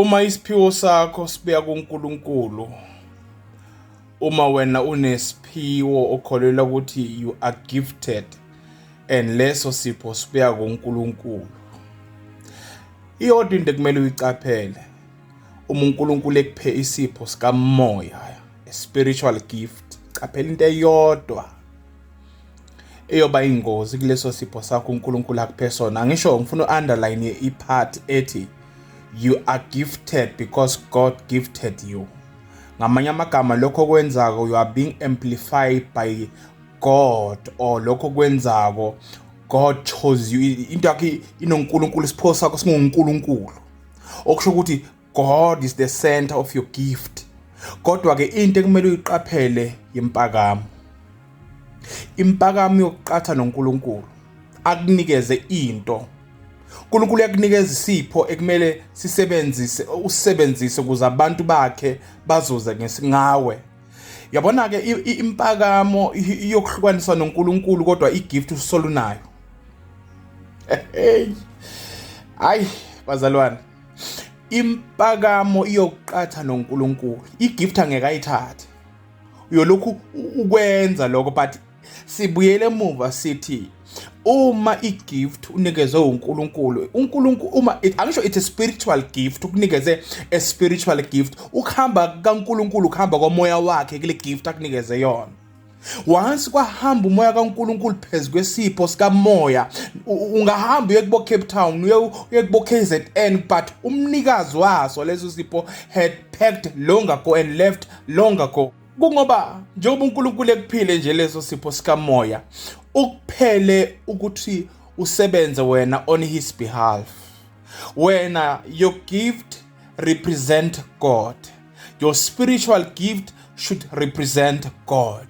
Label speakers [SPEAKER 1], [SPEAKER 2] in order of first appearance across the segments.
[SPEAKER 1] Uma isiphiwo sakho sibuya kuNkulunkulu, uma wena unesiphiwo okholelwa ukuthi you are gifted and leso sipho sibuya kuNkulunkulu. Iyodwa into ekumele uyicaphele uma uNkulunkulu ekuphe isipho sikamoya, a spiritual gift, caphela into eyodwa eyoba ingozi kuleso sipho sakho uNkulunkulu akuphe sona angisho ngifuna u-underline i-part ethi you are gifted because God gifted you ngamanye amagama lokho kwenzako you are being amplified by God or lokho kwenzako God chose you into yakhe inoNkulunkulu isipho sakho singuNkulunkulu okusho ukuthi God is the center of your gift kodwa ke into ekumele uyiqaphele yempakamo impakamo yokuqatha noNkulunkulu akunikeze into uNkulunkulu uyakunikeza isipho ekumele sisebenzise usebenzise ukuze abantu bakhe bazuze ngesingawe yabona ke impakamo yokuhlukaniswa noNkulunkulu kodwa igift usolunayo hey ay bazalwane impakamo iyokuqatha noNkulunkulu igift angeke ayithathe uyolokhu ukwenza lokho but sibuyele emuva sithi uma igift unikezwe uNkulunkulu uNkulunkulu uma angisho it's a spiritual gift ukunikeze a spiritual gift ukuhamba kaNkulunkulu ukuhamba komoya wakhe kule gift akunikeze yona once kwahamba umoya kaNkuluNkulu phezu kwesipho sikamoya ungahamba uye kubo Cape Town uye uye kubo KZN but umnikazi waso leso sipho had packed long ago and left long ago kungoba njengoba uNkulunkulu ekuphile nje leso sipho sikamoya ukuphele ukuthi usebenze wena on his behalf wena your gift represent God your spiritual gift should represent God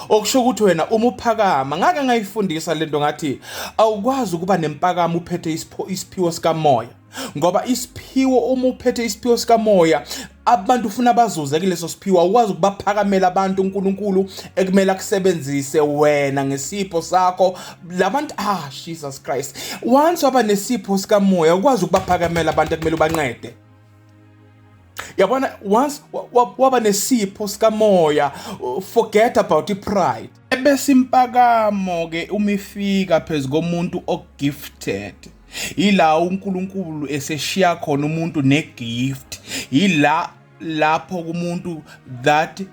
[SPEAKER 1] okusho ukuthi wena uma uphakama ngake ngayifundisa lento ngathi awukwazi ukuba nempakamo uphethe isiphiwo sikamoya ngoba isiphiwo uma uphethe isiphiwo sikamoya abantu ufuna bazuze kuleso siphiwo awukwazi ukubaphakamela abantu uNkulunkulu ekumele akusebenzise wena ngesipho sakho labantu ah Jesus Christ once waba nesipho sikamoya ukwazi ukubaphakamela abantu ekumele ubancede yabona once waba nesipho sikamoya forget about i-pride ebese impakamo ke uma ifika phezu komuntu ogifted yila uNkulunkulu eseshiya khona umuntu negift yila lapho kumuntu that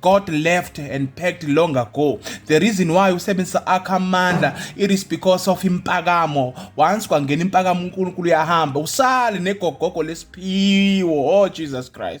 [SPEAKER 1] God left and packed long ago. The reason why usebenzisa akho amandla it is because of impakamo. Once kwangena impakamo uNkulunkulu uyahamba usale negogogo lesiphiwo. Oh Jesus Christ.